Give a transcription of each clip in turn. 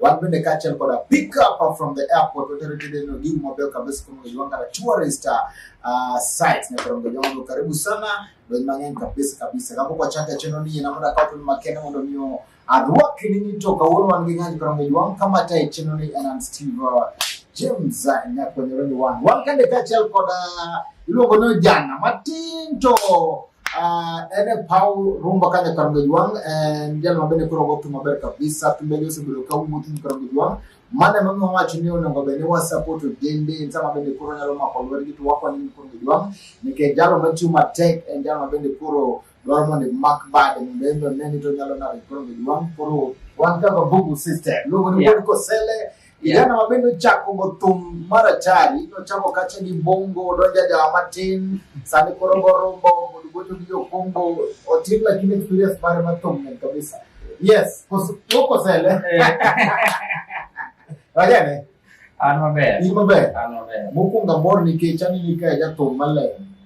wan bende kaachiel koda pick up from the airport watere tedeno gigo mabeyo kabisa kama unajiunga na tourist uh, sites na karongo jongo karibu sana donj mang'eny kabisa kabisa kama kwa chaka cheno ni na muda kapo ni makene mondo miyo arwaki nini to kawuono wan gi ng'anyo karongo jongo kama tai cheno ni and Steve uh, James uh, nyakwanyore ni wan wan kande kaachiel koda iluongo ni ojana matin to Uh, ene Paul Rumba Kanya Karangajwang en jal mabende koro go thum maber kabisa thumbe gi osebedo ka wuotho ni Karangajwang mane mami wawacho ni onego bed ni wasapot ojende en sama bende koro nyalo mako lwetgi to wakonyo ni Karangajwang nikech jalo matiyo matek en jalo mabende koro dwaro mondo imak bade mondo en be one ni to nyalo nade Karangajwang koro wan kaka bubu system luongo ni Yeah. wuod Kosele Kijana wapendo chako bothum mar achari nochako kacha gi bongo odonja jawa matin sani koro gorombo mondo gocho gi okumbo otin lakini experience mare mathum ne kabisa yes wokosele wajane an maber in maber an maber mokwongo amor nikech anini ka jathum maler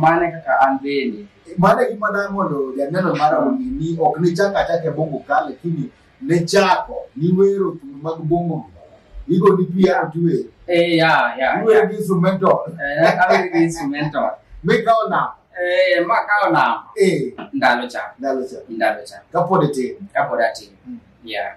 Mane kaka an bende. Mane gima da mondo janeno mara ong'e ni ok ne chak achak e bongo ka lakini ne chako ni wero thum mag bongo igo ni pia tuwe. Eh ya ya. Tuwe gi instrumental. Eh kawe gi instrumental. Me kao na. Eh ma kao na. Eh ndalo cha. Ndalo cha. Ndalo cha. Kapod tin. Kapod tin. Mm. Yeah.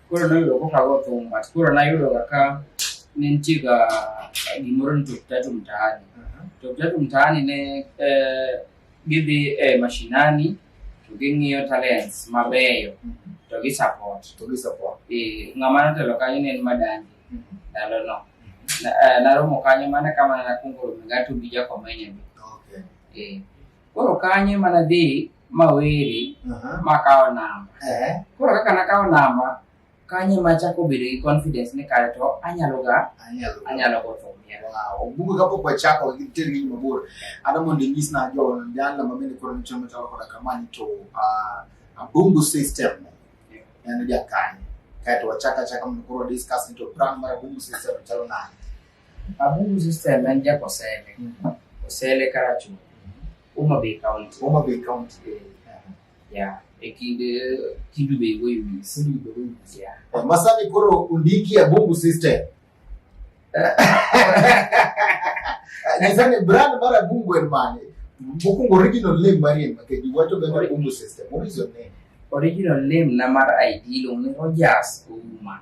Koro noyudo kokago thum but koro nayudo kaka ne nitie ga gimoro ni Top Tatu Mtaani. Top Tatu Mtaani ne eh, gidhi e mashinani to ging'iyo talents mabeyo to gi support. To gi support. Eh, ng'ama notelo kanyo ne en Madandi ndalo no. Na- eh, Naromo kanyo mana kama nakuongo romo gato gi Jakomenyo. Okay. Eh, Koro kanyo ema nadhi maweri makawo namba. Eh. Koro kaka nakawo namba, kanyo ema achako bedo gi confidence ni kare to anyalo ga anyalo go thum. Obugo kapok wachako ter ng'eny mabor, ada mondo inyis na jo jana ma bende koro nichon machalo koda kamani to ah, Abungu system en jakanyo. Kaeto wachako achaka mondo koro discuss ni to brand mar Abungu system chalo nade. Abubu sister nan ja kosele. Kosele karachu. Uma be count. Uma be count. Yeah. Ekinde kidu be go yumi. Sulu be go yumi. Yeah. Masani koro undiki ya bubu sister. Nisani brand mara bungu en mane. Bukungu original name mari en make. You want to get a bungu sister. What is your name? Original name na mar ID lo ni Rogers Uma.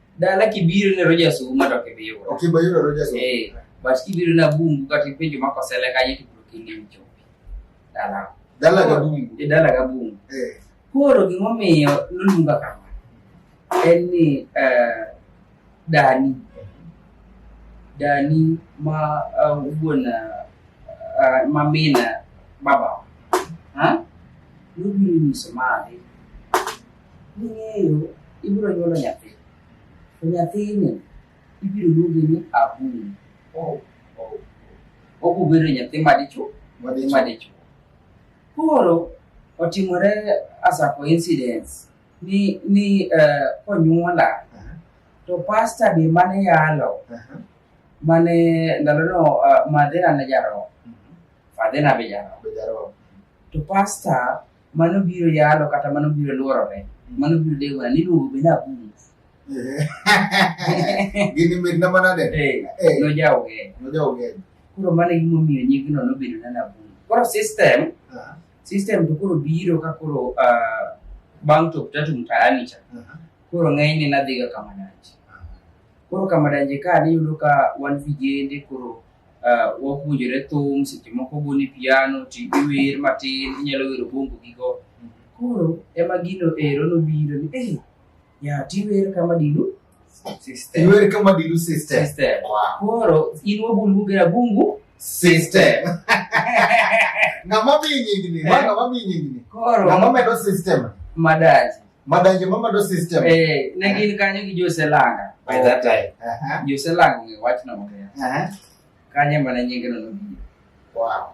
Dala kibiro ne roja suma to kibiro. Okay, ba yuro roja suma. Eh, but kibiro na bungu kati penjo mako sele ka yitu kingi mchopi. Dala. Dala ga bungu. E dala ga bungu. Eh. Koro gimomiyo nolunga kama. En ni eh dani dani ma uh, wuon uh, ma min baba ha nobiro nyiso mari Ning'eyo ibiro nyuolo nyathi, to nyathini ibiro luongi ni Abun. Oh, oh. Oku bedo nyathi madichuo, nyathi madichuo. Koro otimore as a coincidence ni ni uh, konyuola uh -huh. to pasta be mane yalo uh -huh. mane ndalono uh, eh, madhera ne jaro mm -hmm. fadhena be jaro to pasta mano biro yalo kata mano biro luorore mano biro dewo ni luongo be na bum gini mit na mana de eh, eh. no jawo ge no jawo ge koro mano e gimo miyo nying no no bedo na na bum koro system ah. system to koro biro ka koro ah, bang to tatu mtaani cha ah. koro ng'enyne nadhiga kamadanje koro kamadanje ka niyudo ka wan vijende koro uh, wapuonjore thum seche moko goni piano to iwer matin inyalo wero bongo gigo koro ema gino ero nobiro ni hey, ya tiwer kama dilu system iwer kama dilu system system wow. koro in wabulugera bungu system ng'ama miyi nyingni ng'ama miyi nyingni koro ng'ama medo system madaji Madanje mama do system. Eh, ne gin kanyo gi Jose Langa by that time. Aha. Jose Langa ng'e wach na maber. Aha. Kanye mana nyinge no nobiro. Wow.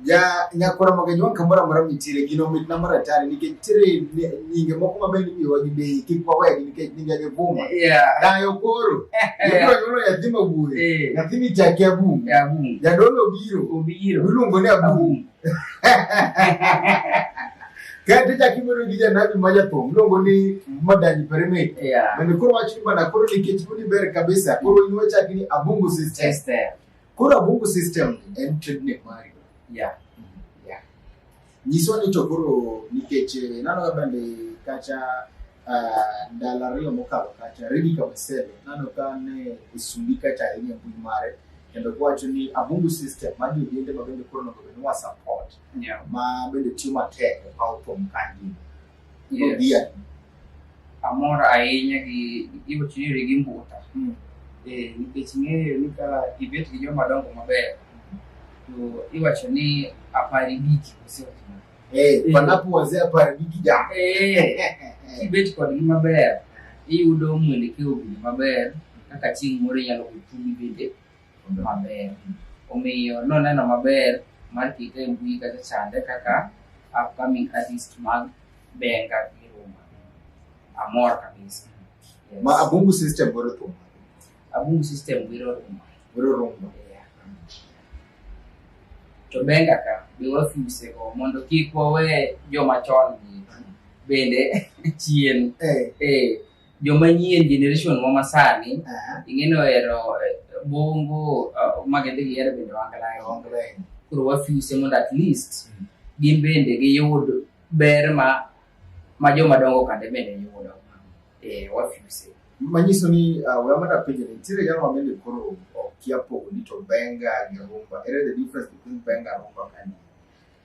Ja nyakora magajwa kamora mara mitire gino mit na mara tare nikech tire ni- nyinge moko mabe ni miwa gi bei kik wawegi nikech nyinge gi buma. Yeah. Dayo koro. Ibro yulo yathima bure. Eh. Yathini chake abumu. Ya bum. Jadolo biro. Obiro. Iluongo ni abumu. Abum. Kati chaki mono gi janabi ma jathum luongo ni Madani Pereme. Yeah. Bende koro wach ni bana koro nikech uni ber kabisa koro in wachaki ni Abungu system. System. Koro Abungu system en trade name mari. Yeah. Yeah. Nyiswa ni to koro nikech eh, nano ga bende kacha ah, ndalo ariyo mokalo kacha Rigi Kabasele nano ka ne osundi kacha ahinya e mbui mare. kendo kwacho ni abungu system ma jodinde ma bende koro nogo bende wa support yeah. ma bende tiyo matek e paw thum ka ngima yes. dhia amor ahinya gi giwo chiri gi mbuta mm. eh nikech ng'eyo ni ka ibet gi joma dongo maber to iwacho ni apari biki oseotimo Eh, Eh. panapo wazee hapa ni kijana. Eh, kibet kodgi maber iyudo mwelekeo bende maber kaka chieng' moro inyalo gochumi bende maber omiyo noneno maber mar kite e mbui kata chande kaka upcoming artist mag benga gi ruma amor kabisa Yes. Ma abungu system boro tu. Abum system biro rumo. Biro rumo. To benga ka be wafuse go mondo kik wawe joma chon gi bende chien. Eh. Eh. Joma nyien generation mo masani. Uh -huh. Ingeno ero eh, bongo uh, magende gi ero bende wangalayo. Wangalayo. Kuro wafuse mondo at least mm. gin bende giyud ber ma ma joma dongo kande bende yudo. eh, wafuse manyiso ni uh, we amada penjo ni nitiere jalo mabende koro okia pogo ni to benga gi rumba ere the difference between benga and rumba kani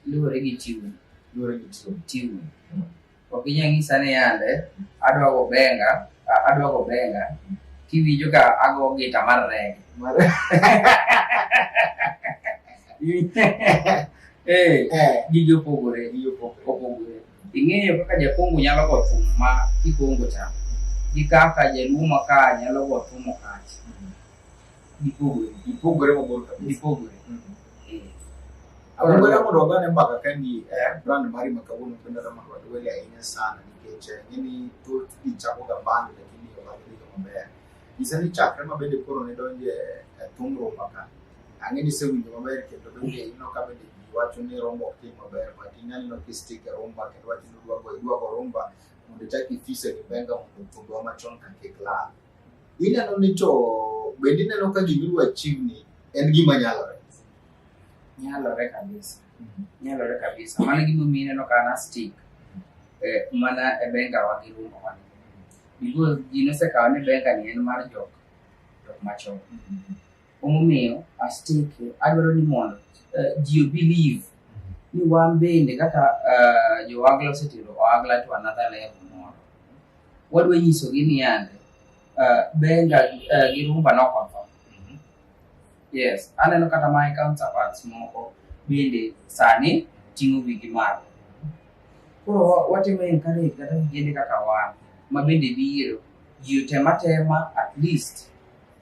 luwore gi tune luwore gi tune tune ok inyal nyisa ni yande adwa go benga a- adwa go benga kiwinjo ka ago gita mar rege Mare- eh eh gigi opogore gigi opogore. opogore Ing'eyo kaka jakongo nyalo go thum ma kikongo cha gi kaka jaluo ma ka nyalo go thum okach. Gipogore. Gipogore mabor kabisa. Gipogore. Mm -hmm. Akwenda mondo wagane mbaka kendi eh, brand mari ma kawuono kendo da mondo wadwele ahinya sana nikech eh, ng'eni thoth ji chakoga band lakini obadilika maber. Nyisa ni chakre ma bende koro ne donje eh, thungruok maka Ang'e ni isewinjo maber kendo bende ineno ka bende ji wacho ni rumba ok tim maber but ineno ka istik e rumba kendo wacho ni idwa go- idwa go rumba mondo ichak ifise gi benga mondo thumbewa machon ka kik lal. Ineno ni to bende ineno ka gima idwa chiwni en gima nyalore. nyalore kabisa nyalore kabisa mano gimomiyo ineno ka na stick eh, mana e benga wa gi rumba wa because ji nosekawo ni benga ni en mar jok jok machon Omomiyo asteke adwaro ni mondo uh, ji obelieve ni wan bende kaka uh, joagla osetero oagla to another level moro wadwa nyisogi ni yande uh, benga uh, gi rumba nokonfo mm-hmm. yes aneno kata my counterparts moko bende sani ting'o wigi malo koro watimo encourage kata gigende kaka wan ma bende biro ji otematema at least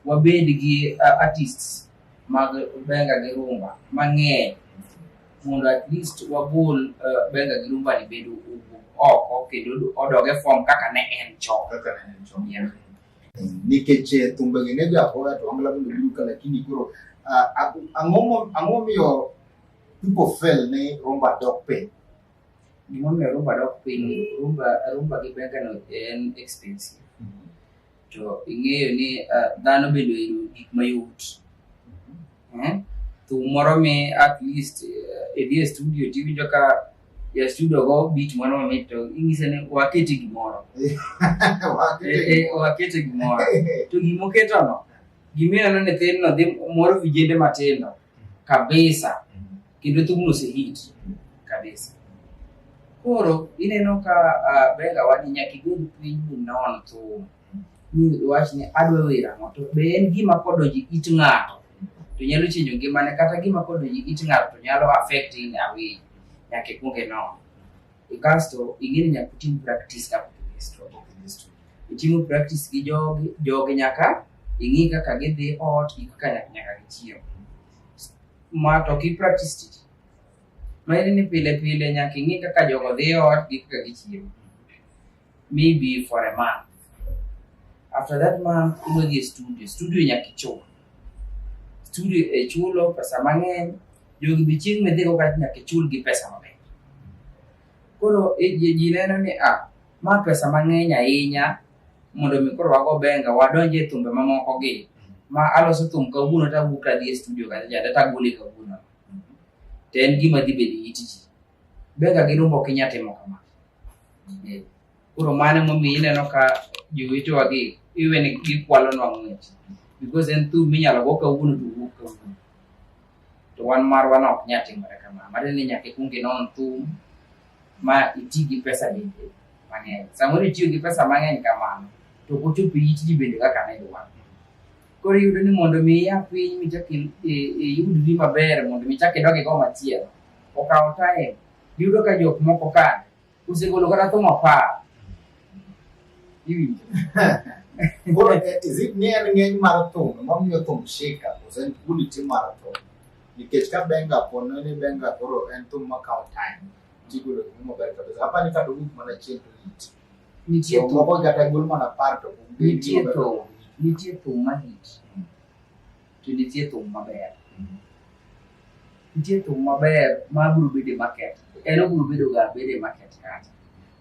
Wabed gi uh, artists mag benga gi rumba mang'eny mondo at least wagol uh, benga gi rumba ni bedo oko kendo odoge form kaka ne en chon. Kaka ne en chon. Yeah. Nikech eh, thumbe gi ne jagoya to angla bende biro ka lakini koro uh, ang'o momiyo people feel ni rumba dok piny? Gimomiyo rumba dok piny, rumba, rumba gi benga no en expensive to ing'eyo ni uh, dhano bende oyudo gik mayot eh? thum moro mi at least uh, idhi e studio tiwinjo ka ya studio go beat moro mamit to ing'ise ni waketi gimoro waketi gimoro to gimoketono gimineno ni thinno dhi moro vijende matindo kabisa kendo thumno osehit kabisa. Koro ineno ka uh, Benga wadi nyaka igol piny minon thum mi wach ni adwa wer ang'o to be en gima kodonjo it ng'ato to nyalo chinjo ngimane kata gima kodonjo it ng'ato to nyalo affect in a way nyaka ikwong inon kasto ing'eni nyaka utim practice ka itimo practice gi jogi jogi nyaka ing'i kaka gidhi ot gi kaka nyaka gichiemo ma to ki practice tich ma in ni pile pile nyaka ing'i kaka jogo dhi e ot gi kaka gichiemo maybe for a month after that month ibiro dhi e studio studio nyaka ichul studio e chulo pesa mang'eny jogi bi chieng' midhi go kata nyaka ichul gi pesa mang'eny koro e- ji ji neno ni ah ma pesa mang'eny ahinya mondo mi koro wago benga wadonje e thumbe mamoko gi ma aloso thum kawuono to awuok adhi e studio kata jada to agole kawuono to en gima dhi bedo it ji benga gi rumba ok inya timo kama Eh, koro mano emomiyo ineno ka jowetewa gi iwe ni gikwalonwa ng'wech because en thum minyalo go kawuono to wuok kawuono to wan marwa ne ok nya timore kamano matiende ni nyaka ikwong inon thum ma iti gi pesa bende mang'eny. Samoro itiyo gi pesa mang'eny kamano to ok ochopo it ji bende kaka ne idwaro. Koro iyudo ni mondo mi ia piny michak i- i- iyudri maber mondo michak idog igo machielo okawo time. Iyudo ka jok moko ka osegolo kata thum apar. Iwinjo. Koro, eh, is it ni en ng'eny mar thum, emomiyo thum shika, kose en quality mar thum? nikech ka benga pono ni benga koro en thum ma kawo time tigolo thum maber kabisa hapa ni kata owuok mana chien to it nitie so thum moko kata gol mana par to kum Nitie thum. nitie thum mahit Mm. to nitie thum maber Mhm. nitie thum maber ma biro bedo e market en obiro bedo ga bedo e market kata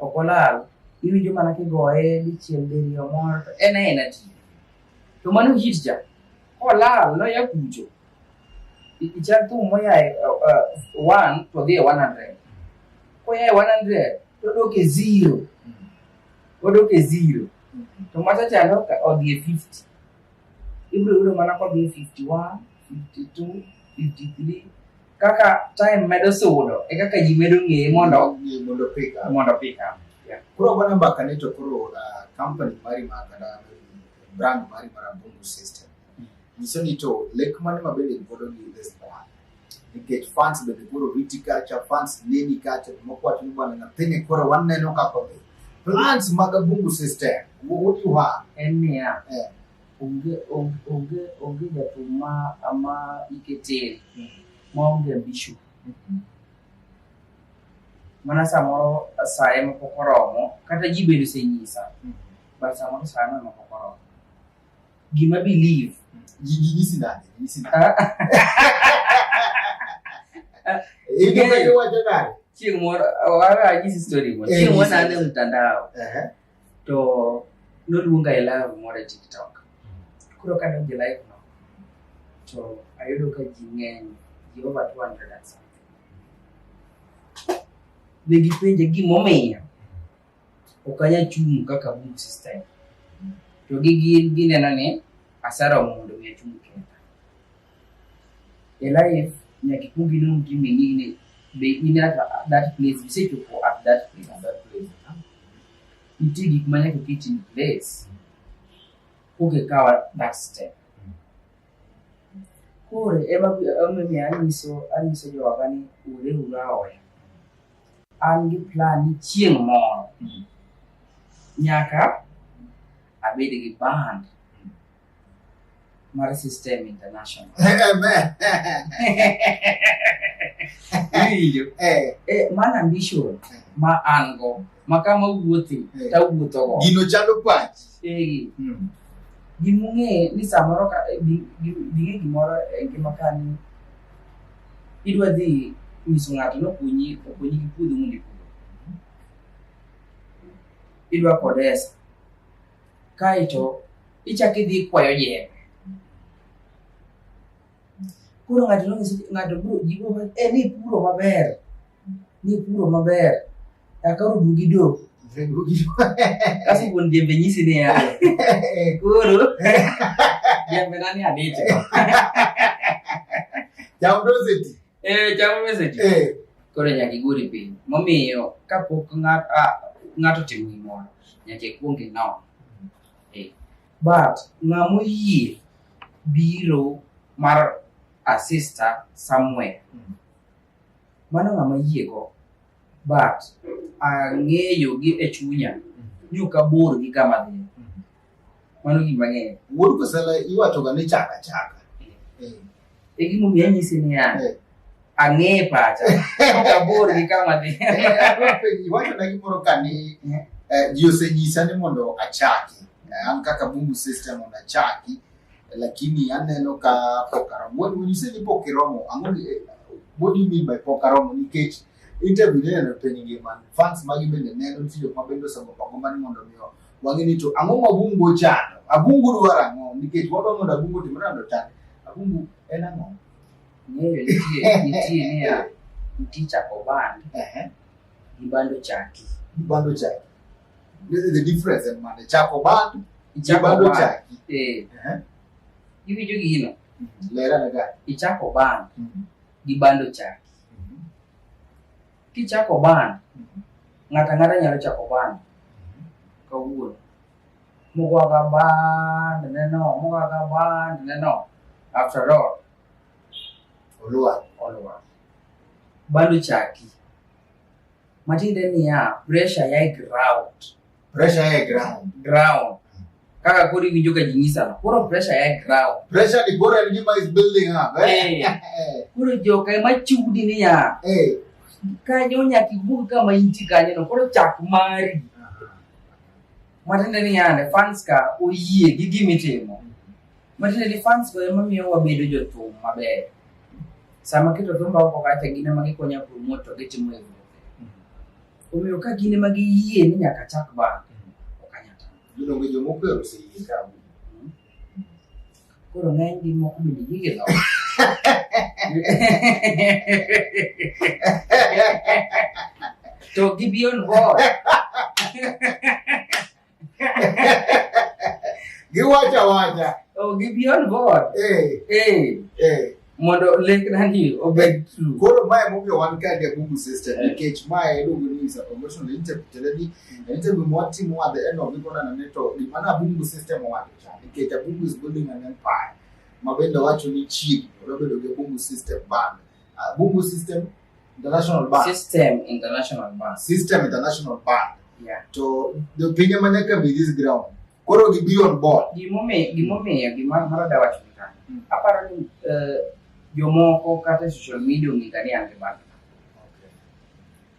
ok olal iwinjo mana kigoye dichiel diriyo moro to en aena ti to mano hit ja kolal noya kucho ichak thum moyae uh, uh, one to dhi e one hundred koyae one hundred to odok e zero odok e zero to machachalo odhi e fifty ibiro yudo mana kodhi e fifty one fifty two fifty three kaka time medo sudo e kaka ji medo ng'eye mondo mondo pick up mondo pick up yeah. koro bana mbaka ni to koro uh, company mari ma kada brand mari mar Abungu system mm. nyiso ni to lek mane ma bende godo gi this brand nikech fans bende koro riti kacha fans neni kacha mokwach ni bwana nyathini koro waneno kaka be plans mag Abungu system what you have en niya yeah. onge onge onge onge jathum ma ma ike tin ma onge ambition mana samoro saye ma pok oromo kata ji bende osenyisa but samoro saye ma ma pok oromo gima believe Nyisi nani? Nyisi nani? ah, Hivi Yeah. ndio wacho nani? chieng' moro wawajisi story moro Eh, chieng' moro nyisa. nane mtandao Ehe. to noluonga e live moro e tiktok koro kadonjo e live no to ayudo ka ji ng'eny ji over 200 and something ne gipenje gimomiyo ok anyal chung' kaka boom system to gi gin gineno ni asara mondo mi achung' kenda e life nyaka ikwong inon gi menine be in at that place isechopo at that place at that place nitie gik ma nyaka oket in place koke kawa that step koro ema omiyo anyiso anyiso jowaga ni ure ura oya an gi plan ni chieng' moro nyaka abed gi band Mara System International. Winjo? Eh, Eh, man ambition ma an go ma kama wuothi Eh. tawuotho go. gino chalo pachi. Eh, Mm. gimung'e ni samoro ka eh, gi- gi- ging'e gimoro e ngima ka ni idwa dhi nyiso ng'ato ni okonyi okonyi gi puodho mondo ipur. Idwa kodesa. Kaeto ichak idhi ikwayo jembe. Koro ng'ato nonyiso ng'ato bro jiwo ma e ni puro maber. Ni puro maber. Akaro dugi do. Kasi wuon jembe nyisi ni ya. Koro jembe nani adich. Jamdoseti. Eh, chamo message. Eh, Koro nyaka iguri piny. Momiyo kapok ng'at- ah, ng'ato otimo gimoro, nyaka ikwong inon. Eh, But ng'a moyie biro mar a sister somewhere, Mm. mano ng'ama yiego but ang'eyo gi e chunya ni ok abor gi kama dhi mano gima ng'eyo wuod kosala iwachoga ni chaka chaka e gimomiyo anyisi niya Eh. ang'eye pacha ok abor gi kama dhi iwachona gimoro ka ni eh, ji osenyisa ni mondo achaki Eh, an kaka bungu sister mondo achaki Lakini aneno ka pok aromo. When, when you say ni pok iromo, ang'o ni, eh, what do you mean by pok aromo? Nikech interview neno piny ngima, fans magi bende neno, nitie jok ma bende osego pako mani mondo mi o- wang'e ni to ang'o ma Abungu ochando? Abungu dwaro ang'o? Nikech wadwa mondo Abungu otim nade ochand? Abungu en ang'o? Ng'eyo nitie nitie niya, nitie chako band Ehe, gi band ochaki. bando chai. the difference in money chako bandu chibando chaki eh hivi eh. jo gino mm-hmm. lera na gani ichako bandu mm-hmm. gi bando chaki mm-hmm. kichako bandu ng'ata ng'ata nyalo chako bandu kawuono mugwaga bandu neno mugwaga bandu neno after all olwa olwa bando chaki matiende niya pressure yae ground Pressure yae ground. ground kaka koro iwinjo ka jinyisano koro pressure yae ground Pressure ni bora ni gima is building up. Eh. Eh, koro joka ema chudi niya Eh. kanyo nyaka iwuog kama inti kanyono koro chak mari matiende niyande fans ka oyie gi gimitimo Matiende ni fans go ema miyo wabedo jothum maber. Sama keto thumba oko kacha gin ema gikonya promote to gitimo hivyo. Omiyo ka gin ema giyie ni nyaka chak band, ok anyal tamo. Yudo ngi jomo kwero si ikabu. Koro ng'eny gi moko bende gige loko. To gibion board. giwacho awacha oh, gi beyond board eh. Eh. Eh. mondo lekna ni obed true koro mae momiyo wan ka the google system nikech mae iluongo ni is a conventional interview tiende ni interview mwatimo at the end of it konana ni to gima na google system owacho cha nikech a google is building an empire ma bende wacho ni chiegni odobedo gi google system band google system international band system international band system international band yeah to the pinye ma nyaka be this ground koro gi be on board gimomiyo gimomiyo gima mara da wacho ka Mm. aparo ni eh, jomoko kata social media ong'e ka ni an gi band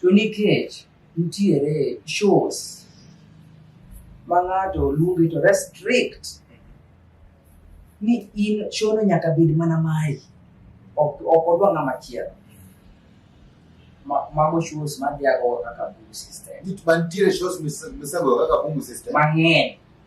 to nikech Nitiere shows ma ng'ato luongi to restrict ni in shono nyaka bed mana mari ok ok odwa ng'ama chielo Ma- mago shows madhiago kaka boom system Nit- Mantiere shows mis- misago kaka Bungu System. mang'eny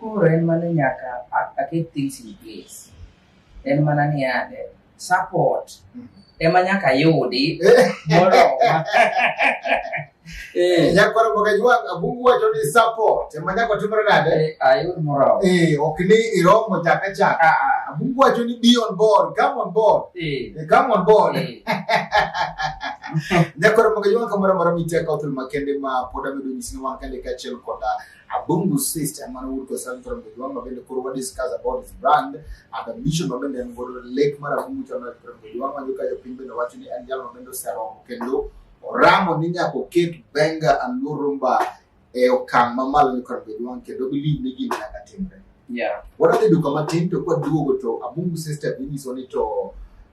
Koro en mana nyaka a- aket things in place. En mana ni ande support ema nyaka yudi moroma. Eh, nyakwara mboga jwang' abungu wacho ni support ema nyako timore nade eh, ayud moroma. Eh, ok ni iromo chaka chaka Ah, ah, abungu wacho ni be on board come on board eh, Eh, come on board eh. nyakwara mboga jwang' kamoro amora miteka othul makende ma pod amedo nyisi ni wan kande kaachiel koda Abungu Sist and Manawur Kosan from the Yuang Mabende Kurwa discuss about his brand and the mission Mabende and Godo Lake Marabungu Chana from the Yuang Mayuka Yopimbe na watu ni and Yal Mabendo Sero Kendo Oramo Ninya Koket Benga and Lurumba e okang' mamalo ni kod bedo wang' kendo believe ni gima nyaka timre Yeah. Wadhi duka matin to kwa duogo to Abungu Sister inyiso ni to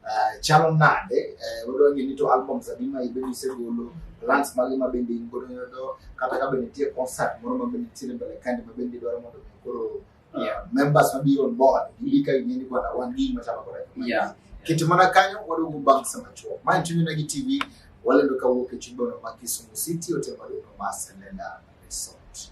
uh, chalo nade uh, wadwa ng'e ni to album za bima ibe nisegolo plans mage ma bende in godo yodo kata ka bende nitie concert moro ma bende nitiere mbele kandi ma bende idwaro mondo mi koro Yeah. uh, members ma biro on board gilika ing'e ni kwana wan gi gima chalo koda kama. Yeah. Kete mana kanyo waduogo bang' sama chuo. Ma en Chuny Onagi TV walendo kawuok e chuny bono ma Kisumu City otemore no ma Selenda Resort.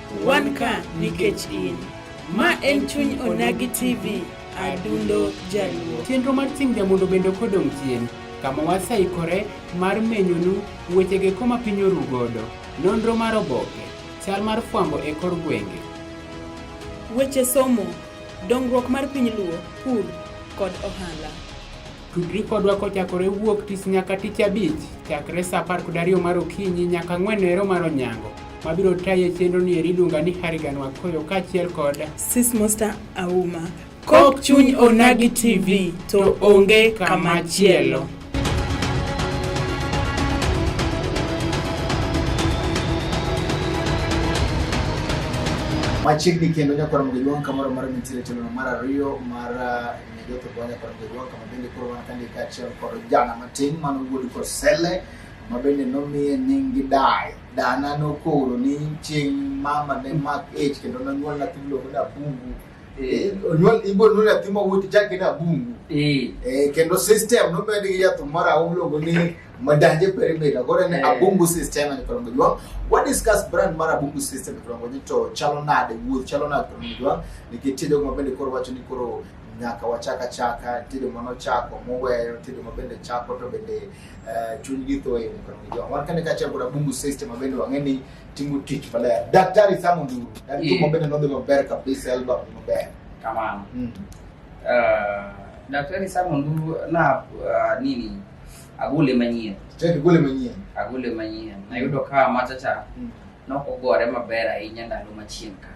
Wan ka nikech in. Ma en chuny Onagi TV, adundo jaluo. Chenro mar Simja mondo bende ok odong' chien, kama waseikore mar menyonu wechego eko ma piny oru godo, nonro mar oboke, chal mar fwambo e kor gwenge. Weche somo, dongruok mar piny Luo, pur kod ohala. Tudri kodwa kochakore wuok tich nyaka tich abich chakre sa apar kod ariyo mar okinyi nyaka ang'wen ero mar onyango mabiro taye chenro ni eri iluonga ni Harigan Wakoyo kaachiel kod Sis Musta Auma. Kok chuny Onagi TV to onge kamachielo. machiegni kendo nyakwar mogiluong kamoro mar nitiere telo mar ariyo mar Jotho Gwanya kod Jogwa kama bende koro wan kani kaachiel kod jana matin mano wuod Kosele ma bende nomiye nying gi dayo. Dana nokoro ni chieng' mama ne mak ich kendo nonyuol nyathi miluongo ni Abungu. Eh, Onyuol ibo nonyuol nyathi ma wuod chake ni Abungu. Eh. Eh, kendo system nomed gi yath moro aum miluongo ni Madanje perimeter koro en eh. abungu system ni koro ngojwa what discuss brand mar abungu system koro ngojwa to chalo nade wuoth chalo nade koro ngojwa nikech tinde kuma bende koro wacho ni koro nyaka wachaka chaka tinde mano chako moweyo tinde ma bende chako to bende eh, chuny gi thoe ni koro ngojwa wan kane ka chako abungu system ma bende wang'e ni timo tich maler daktari samo nduru daktari yeah. mabende nodhi maber kabisa elba maber kamano mm. uh, daktari samo nduru na uh, nini agule manyien Chak gole manyien. agule manyien nayudo ka machacha Mm. nokogore maber ahinya ndalo machien ka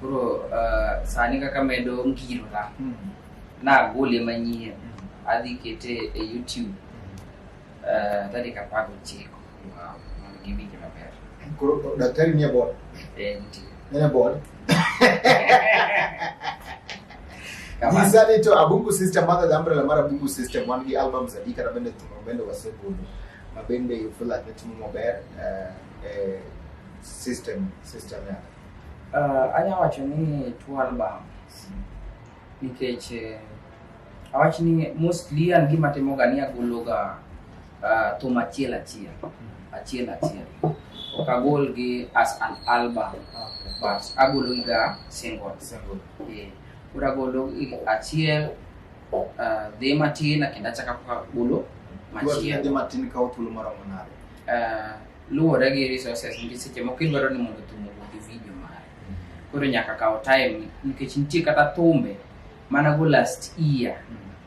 koro ah, sani kaka medo ngirora Mm. nagule manyien Mm. adhi kete e youtube ah, tarik apar gochiko Wow. mondo giwinje maber Koro daktari nie board. Eh, nitie. Nene board. Nyisa ni to Abungu System madho the umbrella mar Abungu System wan gi albums adi kata bende thum bende wasegolo ma bende you feel like itimo maber eh, eh, system system ya. Uh, anya wacho ni two albums nikech eh, awach ni mostly an gima timoga ni agologa uh, thum achiel achiel achiel achiel ok agol gi as an album but agologiga single Eh, koro agolo i- achiel uh, dhi matin kendo achaka agolo machiel Dhi matin kawo thuolo maromo nade uh, luwore gi resources nikech seche moko idwaro ni mondo thum owuog gi video mare koro nyaka kawo time nikech nitie kata thumbe Mana go last year,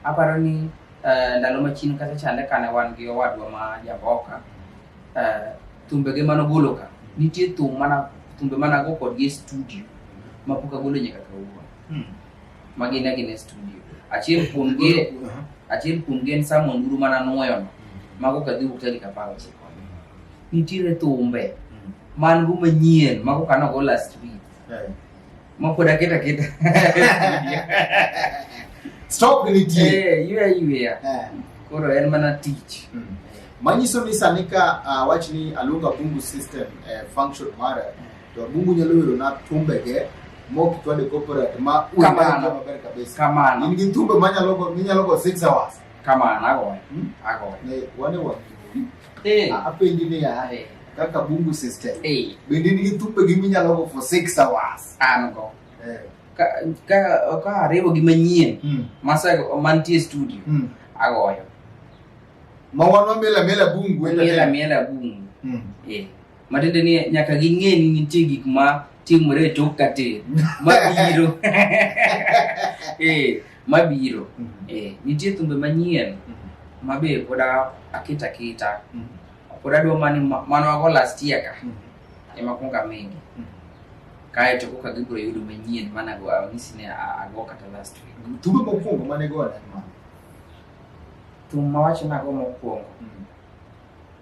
aparo ni eh, ndalo machien kata chande kane wan gi owadwa ma Jamboka, eh, thumbege mane ogolo ka, nitie thum mana thumbe mane ago kodgi e studio ma pok agolo nyaka kawuono. Ma gin agina e studio. Achiel kuom gi achiel kuom gi en Sam Onduru mane anwoyono, mago kadhi wuok tarik apar ochiko. Nitiere thumbe man go manyien mago kane ogo last week. Makuda kita kita. Stop ni ti. Eh, you are you here. Eh. Koro en mana teach. Mm. Manyiso ni sani ka uh, wach ni aluonga bungu system eh, function mara to bungu nyalo yudo na tumbe ge mok twade corporate ma kamano maber kabisa. Kamano. In gi tumbe manyalo go minyalo go 6 hours. Kamano ago. Hmm? Ago. Ne wane wa. Eh. A- apenji niya Eh. kaka bungu system Eh. bende nigi thumbe gi minyalo go for six hours An go. Eh. Ka, ka, ka ariwo gi manyien Mm. mase mantie studio Mm. agoyo ma wan wamela mela bungu e miela miela bungu Mm. eh. Matiende ni nyaka ging'e ni nitie gik ma timore e tok katin mabiro eh, mabiro mm -hmm. eh, nitie thumbe manyien mm -hmm. mabe pod akita kita mm -hmm. pod adwa mani mano ago last year ka mm -hmm. ema kunga mingi mm -hmm. kae to koka gibiro yudo manyien mana go anyisi ne ago kata last week mm -hmm. thumbe mokwongo mane go thum mawacho nago mokwongo mm -hmm.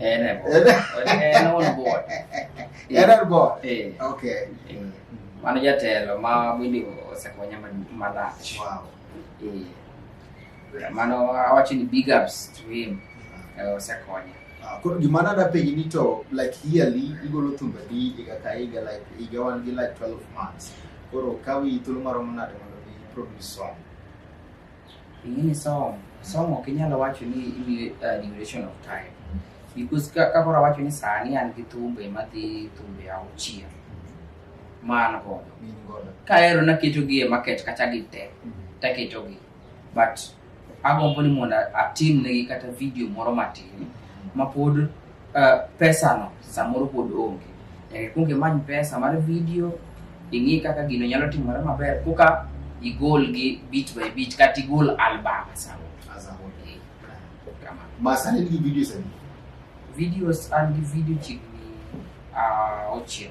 En är bort. En on board. En on board. Eh. Okay. Eh. Mano jatelo ma bende osekonya malach. Wow. Eh. Mano awacho ni big ups to him. Eh, osekonya. Ah, koro gima nada penji ni to like yearly igolo thumbe di higa ka higa like higa wan gi like 12 months koro kawi thuolo maromo nade mondo mi produce song ing'eni som somo ok inyalo wacho ni imiyo uh, duration of time because ka- kakoro awacho ni sani an gi thumbe madhi thumbe auchiel ma an godo Gin godo. kaero naketogi e market kata gi te taketogi but agombo ni mondo atimnegi kata video moro matin mapod Uh, pesano samoro pod onge nyaka ikwong imany pesa mar video ing'i kaka gino nyalo timore maber koka igol gi bit by bit kata igol album samoro Eh, kamano. masani nigi videos adi videos an gi video chiegni uh, auchiel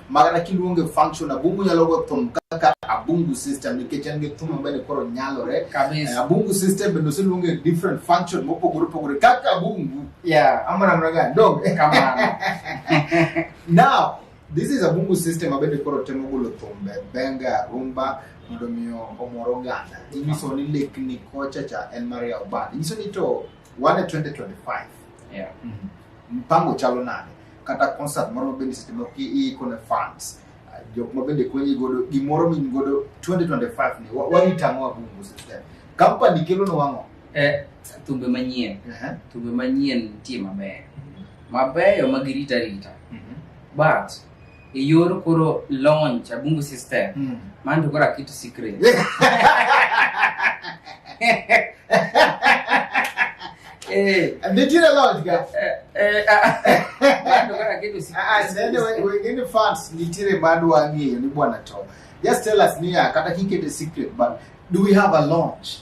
magana kiluonge function abungu nyalo go thum kaka abungu system nikech en gi thum mabende koro nyalore eh, abungu system bende oseluonge different function mopogore opogore kaka abungu yeah amana mna ga dog kamano now this is abungu system mabende koro temo golo thumbe benga rumba mondo miyo omoro ganda inyiso ni lekni kocha cha en mar yawo band inyiso ni to wan e 2025 Yeah. mpango chalo nade kata concert moro ma bende seche moko iiko ne fans ah, jok ma bende konyi godo gimoro min godo 2025 ni wa- warita ang'o abungu system company kelo no wang'o Eh, thumbe manyien Ehe. thumbe manyien nitie mabeyo mabeyo ma girita rita Mhm. but e yor koro launch abungu system mm. man to koro aketo secret Eh. And they did a lot, guys. Wengine fans nitire bado wang'eyo ni bwana to. Just tell us niya kata kikete secret but do we have a launch?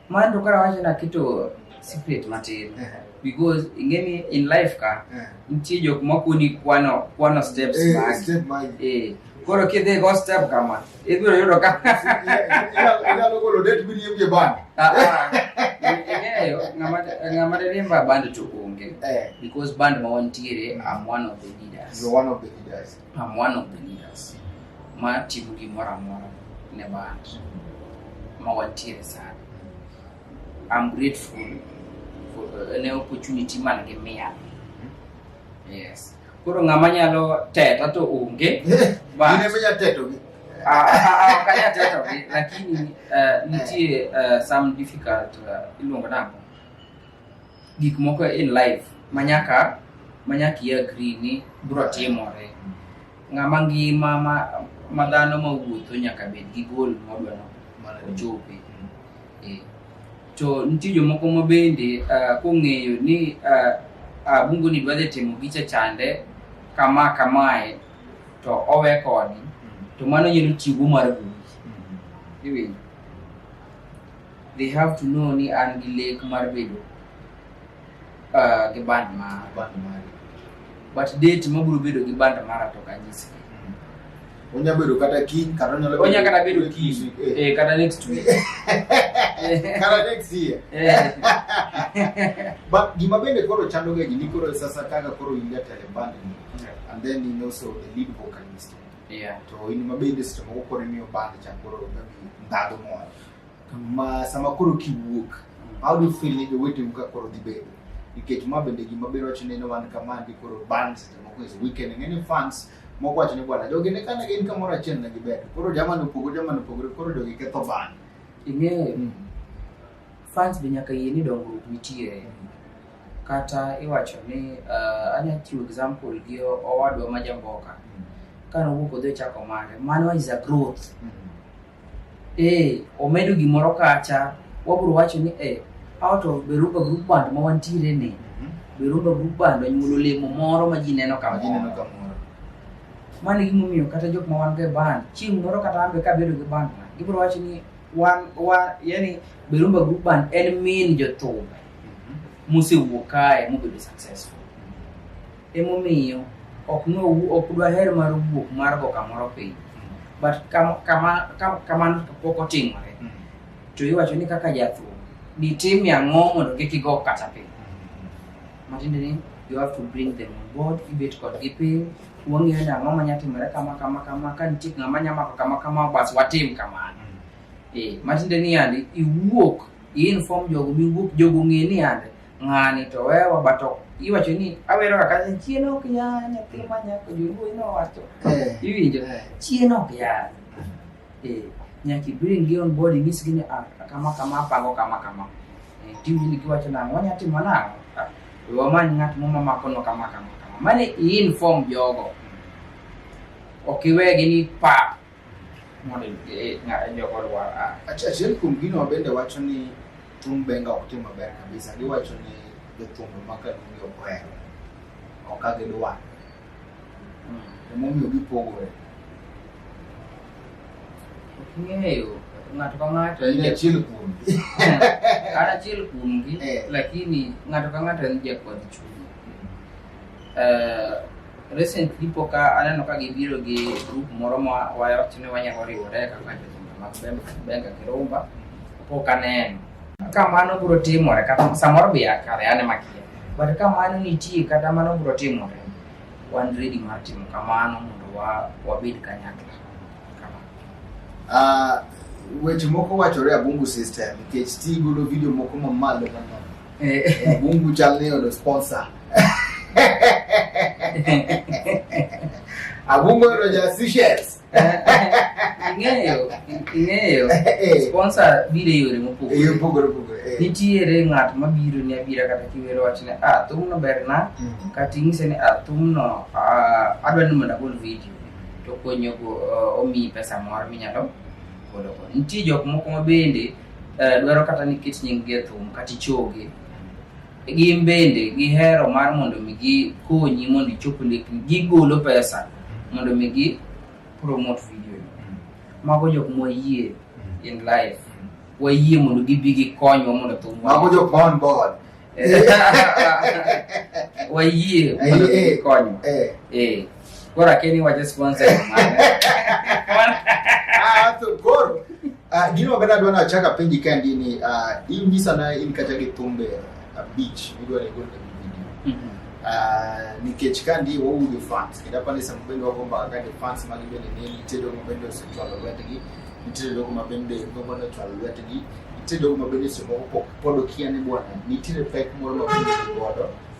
Man to kara wacho na kitu secret matin. Eh. Because ingeni in life ka eh. nitie jok ma kuni kwano kwano steps eh, mag. Step mag. Eh. Koro kidhi go step kama. Ibiro yudo ka. Ina logo lo det bi yemje ban. Ah. ah. Ing'eyo ng'ama ng'ama riemba band to onge. Eh. Because band ma wantiere I'm one of the leaders. You're one of the leaders. I'm one of the leaders ma timo gimoro amora ne band ma wantiere sana. I'm grateful for uh, ne opportunity man gi miya. Yes. Koro ng'ama nyalo teta to onge. But- Ine menya teto gi. Ah, ah, ah, ok anyal teto gi lakini uh, nitie uh, some difficult uh, iluongo nang'o gik moko in life manyaka manyaka i agree ni bro timore ng'ama ngima ma, ma dhano ma wuotho nyaka bed gi gol modwa no ochope Eh, to nitie jomoko ma bende ah, kong'eyo ni ah, ah, bungu ni dwa dhi timo gicha chande kama kamae to owe koni to mano nyalo chiwo mar goli iwinjo They have to know ni an gi lek mar bedo uh, gi band mara. Band mara. But date ma biro bedo gi band mara to kanyisi. Mm. Onya bedo kata kiny kata onyalo bedo. Onya kata bedo kiny. Eh. eh kata next week. kata next year. Eh. But gima bende koro chando ga gini koro sasa kaka koro ingia tele band ni. And then he also the lead vocalist. Yeah, to in ma bende seche moko koro imiyo band cha koro maybe ndhadhu moro. Ma sama koro kiwuok, how do you feel ni joweteu ka koro dhi bedo? Nikech ma bende gima biro wacho ni ne wan kama ndi koro band seche moko is weekend ng'eni fans moko wacho ni bwana jogi ne kane gin kamoro achiel ne gibedo. Koro jamani opogore jamani opogore koro jogi ketho band. Ing'eyo, fans be nyaka yie ni dongruok nitie. kata iwacho ni uh, anya chiwo example gi o- owadwa ma jamboka ka nowuok odhi ochako mare mano is a growth eh omedo gimoro kacha wabro wacho ni eh out of beruba group band ma wantiere ni beruba group band onyuolo olemo moro ma ji neno ka Gineno moro kamoro. mano e gimomiyo kata jok ma wan go e band chieng' moro kata ambe ka bedo gi band na gibro wacho ni wan wan yani beruba group band en min jothum musewuok kae mubedo successful emomiyo ok nowu ok dwaher mar wuok mar go kamoro piny but kam- kama- kam- kamano to pok otimore to iwacho ni kaka jathum ditimie ang'o mondo kik igo kata piny matiende ni you have to bring them on board ibet kodgi piny wang'eyo ni ang'o manya timore kama kama kama ka nitie ng'ama nya mako kama kama bas watim kamano eh matiende ni yandi iwuok i-inform jogo miwuok jogo ng'e ni yande ng'ani to wewa but ok iwacho ni awero kaka chien ok ya nyathi ma nyako joluo inowacho Eh, iwinjo eh. chien ok ya Eh, nyaka ibring gi on board inyisgi ni ah, kama kama apango kama kama Eh, tiwinjo ni giwacho nang'o wanya timo nang'o Ah, we wamany ng'at moro mamakono kama kama kama mane i-inform jogo ok iwegi ni pa mondo e, e jogo lwar a achiel kuom gino bende wacho ni thum benga ok tim maber kabisa giwacho ni jothumbe ma kaluongi ok ohero ok ka gidwa hmm. emomiyo gipogore ok ng'eyo ng'ato ka ng'ato en achiel kuom an achiel kuom gi eh. lakini ng'ato ka ng'ato en jakwadh chuny hmm. eh, Recently pok aneno ka gibiro gi group moro ma wayot ni wanyalo riwore kaka jotenda mag Benga Kirumba, pok aneno. Ka mano biro timore kata samoro be akare ane makia. But ka mano nitie kata mano biro timore, wan ready mar timo kamano mondo wabed kanyakla. Ah, weche moko wachore abungu system nikech ti golo video moko mamalo mano Mungu channel hiyo ndio sponsor. Abungo ndio jasishes. Ing'eyo, ing'eyo. Eh. Sponsor bire yore mopogore. Yore mopogore mopogore. Eh. Nitiere ng'at mabiro ni abira kata kiwero wachne, ah, thumno berna, mm. kata ing'ise ni ah, thumno ah, adwa ni mondo agol video to konyogo eh, omiyi pesa moro minyalo golo. Nitie jok moko mabende eh, dwaro kata ni ket nyinggi e thum kata ichogi gin bende gihero mar mondo mi gikonyi mondo ichop lekni gigolo pesa mondo mi gi promote video mago jok mwayie in life wayie mondo gibi gikonywa mondo thum mago jok ma on board wayie mondo Eh, eh, gikonywa eh. eh. Gora Kenny wa just one second. Ah, to goro. Ah, gino bada dwa na chaka penji kandi ni ah in gisa na in kata gi tumbe a beach midwa ni gona video. Mhm. Ah, nikech kandi wo wuge fans kida pale sa mbendo wako mba kandi fans magi bende ne nitedo ko bende so twalo wetgi nitedo ko mabende ko bende twalo wetgi nitedo ko mabende so ko podo kiane bwana nitire pek moro ma piny godo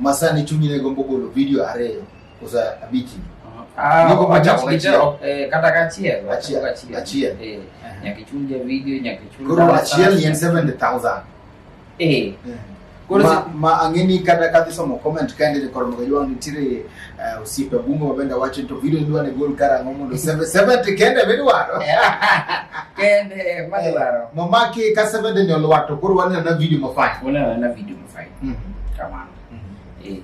Masani chunyi ne gombo golo video ariyo kosa abichi. Ah, Nyako wacha mabich wacha, dichiel. eh, kata kachiel wacha Achiel, kachiel. achiel. Eh, Aha. nyaka ichul ja video nyaka ichul Koro dala achiel ni en sasa. 70,000. eh Koro ma, si- ma ang'eni kata kadhi somo comment kaende to koro mokajua nitiere uh, osiepe bungo mabende wacho ni to video idwa ne gol karang'o mondo 70 kende midwaro kende madwaro nomaki ka 70 ni olwar to koro waneno na video mafanya una na video fight mm -hmm. kamano mm -hmm. eh.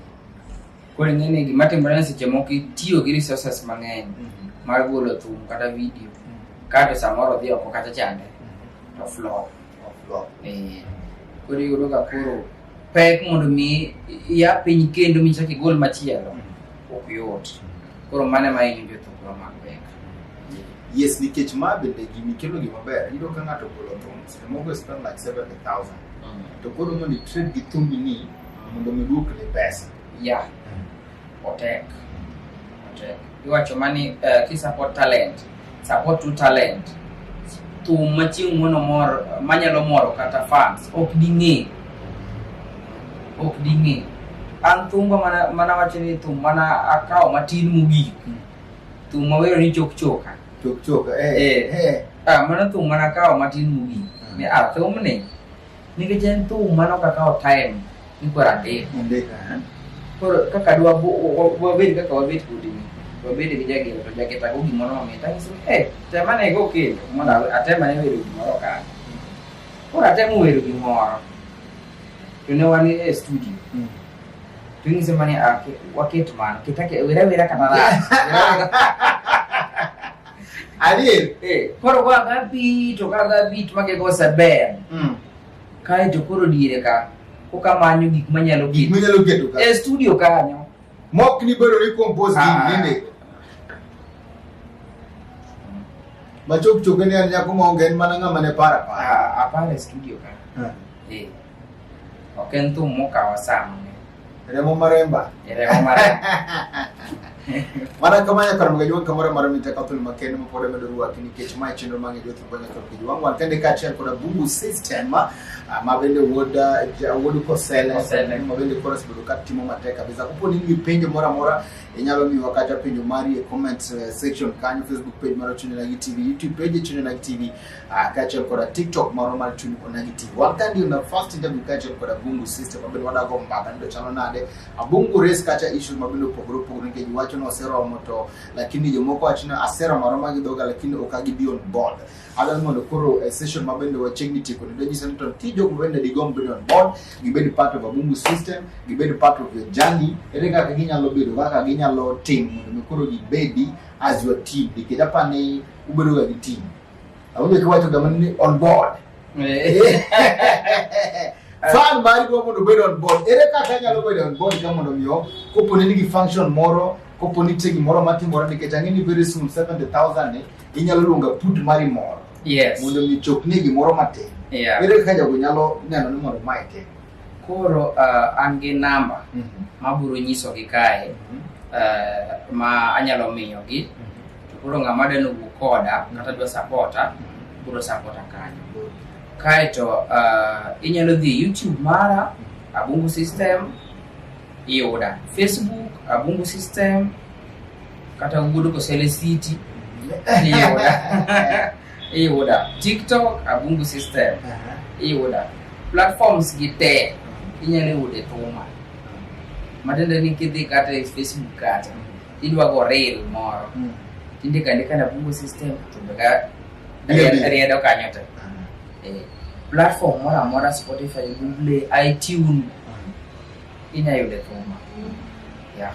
koro ing'e ni gima timore ni seche moko itiyo gi resources mang'eny mm -hmm. mar golo thum kata video mm -hmm. kato samoro dhi oko kata chande mm -hmm. to flop eh. koro iyudo ka koro pek mondo mi ya piny kendo michak igol machielo mm -hmm. ok yot mm -hmm. koro mane ma inyo jothum yes nikech ma bende gini kelo gima ber iyudo ka ng'ato golo thum The mobile spend like 70,000. Mm. To go to money trade with Tumbi ni mondo mi duok le pesa. Yeah. Otek. Otek. Iwacho mani uh, ki support talent. Support to talent. Thum machieng' mono mor manyalo moro kata fans ok ding'e. Ok ding'e. An thumba mana mana wacho ni thum mana akawo matin mogik. Thum mawero ni chok choka. Chok chok eh. Eh. Eh. Ah, mano thum mana kawo matin mogik. Mm. Ni ah, thumni nikech en thum mano kakawo time ni koro andiko. Andika. eh. Koro kaka dwa bu- wa- wa- wabed kaka wabed kodi ni. Wabed gi jagero to jageta go gimoro mamit. Anyiso ni eh, tema ne go kendo mondo awe- atema ne wero gimoro ka. Koro atemo wero gimoro. To ne wan e studio. Mm. Tuing semuanya ah, wakil cuman kita kayak wira wira kata lah. Adil, eh, koro kwa gabi, to ka gabi, to make go saber. Mm. Kai to koro dire ka, ko ka manyu gik manyalo gik. Manyalo gik ka. E studio ka nyo. Mok ni bero ni compose gik ah. nende. Machok chok ni an nyako ma ongen mana ngama ne para para. Ah, apare studio ka. Ah. Eh. Ok en thum mokawa saa mang'eny. Remo maremba. E remo maremba. Mana kama nyaka ram gajuang kamora mar mita kathul makende ma pod medo ruwa kini kech ma chenro ma ngejo thumba nyaka ram gajuang wan kende ka achiel koda bubu system ma ah, bende wuod ah, wuod kosele ma bende kora sebedo ka timo matek kabisa kupo ni ngi penjo mora mora inyalo miwa kata penjo mari e comment eh, section kanyo facebook page mar chune na gi tv youtube page chune na gi tv Ah, kaachiel koda tiktok moro mar chuny onagi tv wan ka ndio na first interview kaachiel koda bungu system mabende wadago mbaka nido chalo nade abungu race kacha issues mabende opogore opogore nikech wacho ni oseromo to lakini jomoko wacho ni aseromo aroma gi dhoga lakini ok agibi on board adwa ni mondo koro eh, session mabende wachiegni tieko nido nyiso ni to nitie jok mabende digomb bedo on board gibed part of abungu system gibed part of your journey ere kaka ginyalo bedo kaka ginyalo timo mondo mi koro gibedi as your team nikech apa ni ubedoga gi team Abudhi kiwacho gama ni on board. Fan mari dwa mondo obed on board. Ere kaka anyalo bedo on board ka mondo miyo kopo ni nigi function moro kopo ni nitie gimoro matimore nikech ang'e ni very soon 70,000 ni inyalo luonga put mari moro. Yes. Mondo mi chopni gimoro matin. Yeah. Ere kaka jago nyalo neno ni mondo mae tim? Koro uh, an gi namba mm -hmm. mabiro nyisogi kae mm -hmm. uh, ma anyalo miyogi mm -hmm. to koro ng'ama deno wuo koda mm -hmm. kata dwa sapota mm -hmm. biro sapota kanyo mm -hmm. kaeto uh, inyalo dhi youtube mara mm -hmm. abungu system iyuda facebook abungu system kata wuod kosele city mm-hmm. iyuda i yuda tiktok abungu system i yuda platforms gi te inyalo yude thuma matiende ni kidhi kata e facebook kata idwa go reel moro mm. tindika andika na bungu system to beka riedo kanyo te eh, platform moro amora spotify google itune inya yude thuma yeah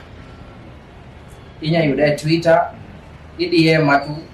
inya yude twitter idm matu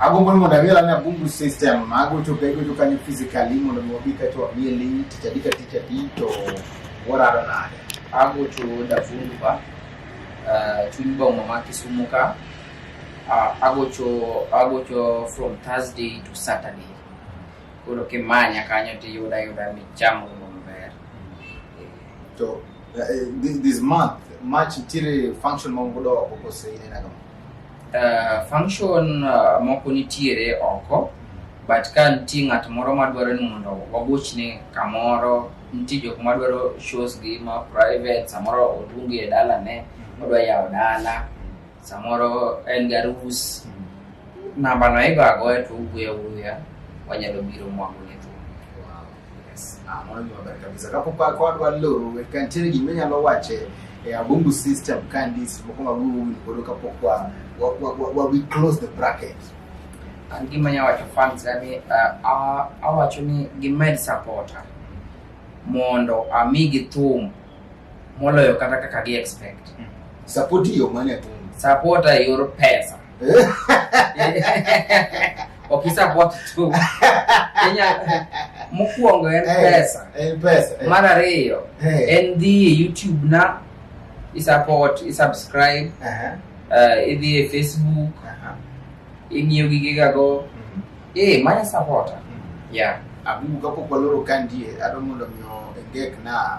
agombo ni mondo ang'e lani abungu system magocho ka igocho kanyo physically mondo mi wabi kaeto wamiye ling tich adi ka tich adi to warado nade agocho davungu ba uh, chuny boma ma kisumu ka uh, agocho agocho from thursday to saturday koro kimanya kanyo tiyuda yuda michamo maber to uh, this, this month march ntiere function ma ungodo oko kose inena kama Uh, function uh, moko nitiere oko but ka nitie ng'at moro madwaro ni mondo wagochne kamoro nitie jok madwaro shows gi ma private samoro odungi e dalane odwa yawo dala samoro en garus nambano igo agoya to ugweya wuya wanyalo biro mwago Ah, mano gima ber kabisa kapok wa- ka wadwa loro we- ka nitiere gima inyalo wacho e- e abumbu system ka ndis moko ma wawuoyo godo kapok wa- wa- wa- wa- wa- we close the bracket an gima nya wacho fans ga ni ah, ah, awacho ni gimed supporta mondo amigi thum moloyo kata kaka gi expect support yo mane atum supporta e yor pesa Okisa bot tu. Kenya mokwongo en Eh, pesa. eh, pesa, eh. Mar ariyo Eh. en dhi e YouTube na isupport, isubscribe, Aha, uh, idhi e Facebook, aha. ing'iyo gigegago. Mm, Eh, manya supporter. mm. Yeah. Abubu kapok waloro ka ndie, adwa mondo mi o- engek na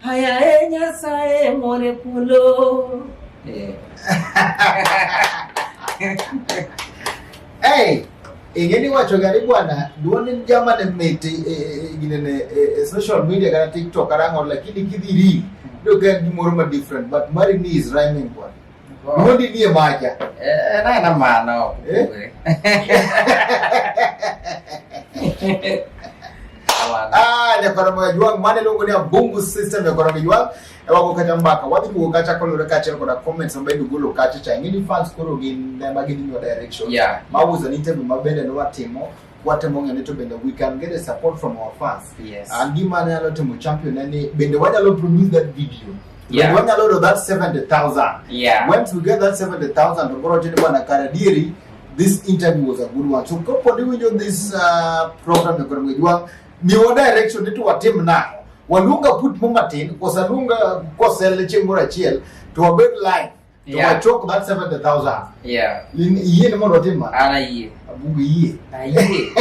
Haya e Nyasaye more kulo. Eh. hey, ingeni wacho gari bwana duonin jama ne miti e, e, e, gine ne e, social media kana TikTok arango lakini kidhiri do kan gimoro ma different but mari ni is rhyming bwana. Mundi ndiye maja. Eh, na na maana hapo. Eh? Ah, ne para moya juang mane longo ne bungu system ne para juang. E wako kata mbaka. Wapi ko kata ko lura kata ko na comments ambaye dugu lo kata cha ngini fans ko ro gin na magini no direction. Yeah. Mawuza ni tebe mabende no watimo. watemo ng'e ni to bende we can get a support from our fans yes. uh, gima anyalo timo champion en ni bende wanyalo produce that video yeah. wanyalo yudo that 70000 yeah. once we get that 70000 to koro chini bwana kare dieri this interview was a good one so kopo ni winjo this uh, program ya kwenye jwa ni wa direction ni to watim na waluonga put mo matin kosa luonga kosel chieng' moro achiel to wabed live to yeah. talk about 70000 yeah in iye ni mondo otim ana iye abugo iye iye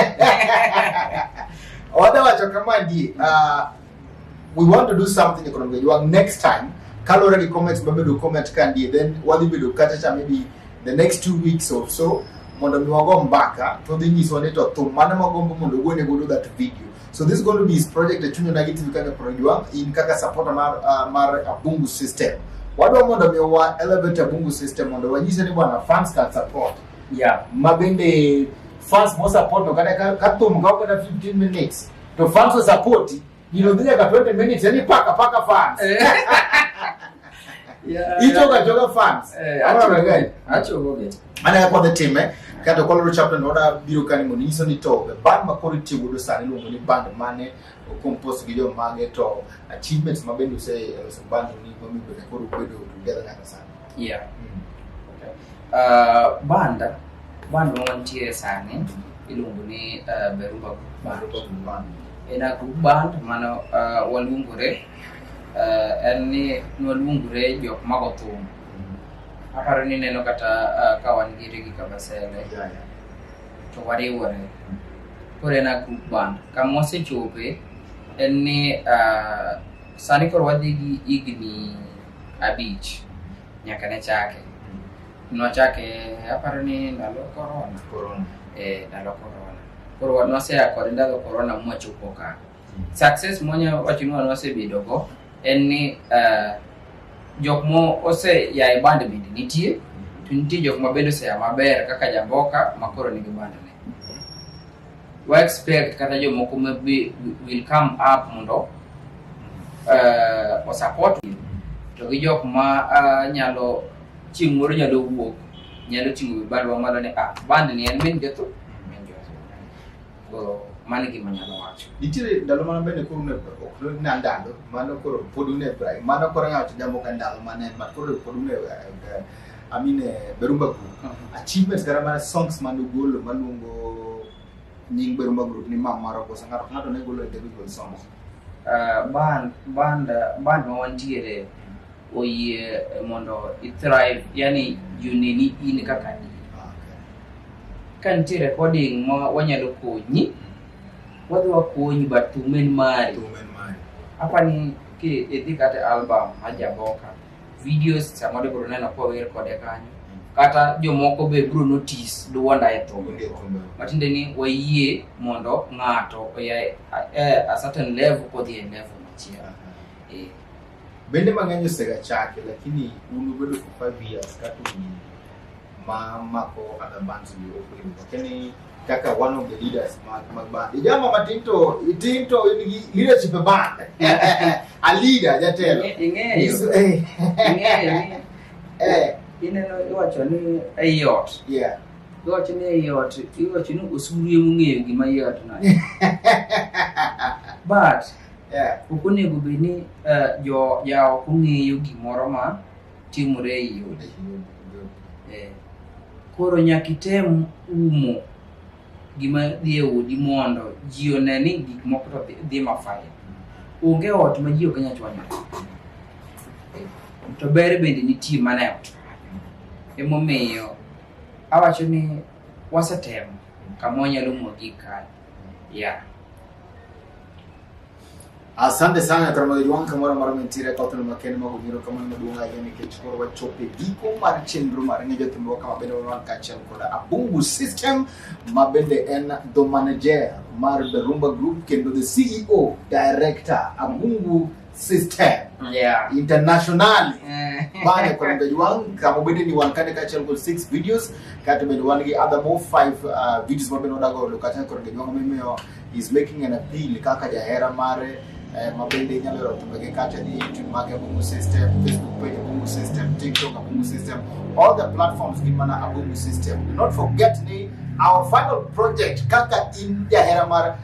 oda wacho kama die uh, we want to do something economic jwang next time kalore gi comments mabedo comment ka ndie then wadhi bedo kata cha maybe the next two weeks or so mondo mi wago mbaka to dhi nyiswa ni to thum mane magombo mondo ogone godo that video So this is going to be his project e chunya nagi tivi kaka projwa in kaka supporter mar uh, mar Abungu system. Wadwa mondo mi wa elevate Abungu system mondo wanyise ni bwana fans can support. Yeah. Mabende fans mo support no kata ka thum ka kata 15 minutes to fans will support you know dhia ka 20 minutes yani paka paka fans. Eh. yeah. Itoka toka fans. Eh, acho gani? Acho gani? Mane ka kwadhi time kato koloro chapter no da biro kani mondo nyiso ni to band ma koro itiyo godo sani iluongo ni band mane compose gi jo mage to achievements ma bende use ose band ni ma mi bende koro bedo together kaka sani. Yeah. Mm. Okay. Uh, band band ma wantie sani iluongo ni uh, Berumba Band. Berumba Band. En a group band mano uh, waluongore uh, en ni nwaluongore jok mago thum Aparo ni neno kata uh, ka wan gi Rigi Kabasele Yeah, yeah. to wariwore. Koro en a group band. Kama wasechope en ni uh, sani koro wadhi gi higni abich nyaka ne chake. Nwachake aparo ni ndalo korona. Corona. Eh, ndalo korona. Koro nwaseya kod ndalo korona mwachopo ka. Success monya wacho ni wan wasebedo go en ni uh, jok mo ose ya e band bende nitie to nitie jok ma bende oseya maber kaka jamboka ma koro nigi band ne wa expect kata jomoko ma will come up mondo uh, osupport to gi jok ma uh, nyalo chieng' moro nyalo wuok nyalo ting'o wi bandwa malo ni ah band ni en min jotho Go mano e gima anyalo wacho. Nitiere ndalo mana bende koro ne ok ne na ndalo mano koro pod un e brai mano koro ng'ato jambo ka ndalo mana en mar koro pod un e eh, I mean eh, Berumba Group. Achievements kata mana songs mane ugolo maluongo nying Berumba Group ni ma maro kosa ng'ato ka ng'ato ne golo individual songs. Ah, band band ah, band ma wantiere oyie mondo i thrive yani juneni in kaka in ka nitie recording ma wanyalo konyi wadhi wakonyi but thum en mari apa ni ki idhi kata e album majaboka videos samoro ibiro neno kower kode kanyo kata jomoko be biro notice duonda e thum matiende ni wayie mondo ng'ato oya e a certain level kodhi e level machielo Bende mang'eny osegachake lakini un ubedo for five years kaka un ma mako other bands ni ok oyudo. Lakini kaka one of the leaders mag mag band. Ijama matin to itin to in gi leadership e band. A leader jatelo. Ing'eyo, Is eh ing'eyo ni eh ineno iwacho ni ei ot. yeah. Iwacho ni ei ot, iwacho ni osuru emong'eyo gima ei ot no. But Yeah. Ok onego bed ni eh, jo jaoko ng'eyo gimoro ma timore e i odi. Eh, Koro nyaka item umo gima dhi e odi mondo ji one ni gik moko to dhi- dhi mafaya. Onge ot ma ji ok nyal chwanyore. Eh, To ber bende nitie mana e ot. Emomiyo awacho ni wasetemo kama wanyalo umo gik kae. yeah. Asante sana Karamagi Juan kamoro mar mintire ka oteno makende mago biro kamano maduong' ahinya nikech koro wachope giko mar chenro mar ng'e jothumbewa kama bende wan kaachiel koda Abungu System ma bende en the manager mar The Rumba Group kendo the CEO director Abungu system yeah internationally eh. bane kono bedo wan kama obede ni wan kane kaachiel kod six videos kata bedo wan gi other more five uh, videos ma bende wadago olo kata kono bedo wan mimiyo is making an appeal kaka jahera mare eh, ma bende inyalo yoro tumbege kata ni youtube mage abungu system facebook page abungu system tiktok abungu system all the platforms gin mana abungu system do not forget ni our final project kaka in jahera mare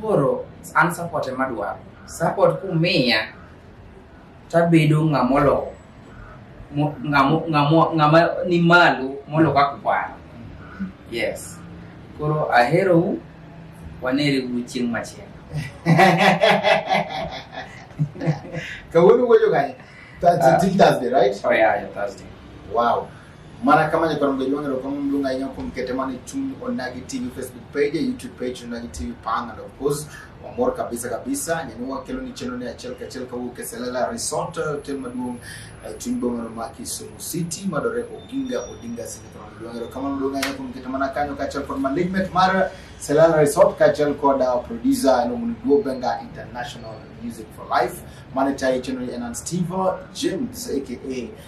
Koro an support ema dwaro. Support kumiya tabedo ng'ama olowo ng'ama ni malo molo kaka kwano. Yes. Koro aherou wanere gu chieng' machielo. Kawuono wuoyo ganye. That's uh, ah. till Thursday, right? Oh yeah, yeah, Thursday. Wow. Mana kama nyakwaro mdogo wangu kwa mundu nga inyo kumkete mani chungu onagi TV Facebook page, YouTube page onagi TV pang and of course wamor kabisa kabisa nyanua kelo ni cheno ni achel kachel ka wuke selala resort hotel maduong eh, chungu bongo ma Kisumu City madore Oginga Odinga sini kwa mdogo wangu kama mdogo nga inyo kumkete mana kanyo kachel kwa malignant mara selala resort kachel kwa da producer eno muniguo benga international music for life mani chai cheno ni Enan Steve James aka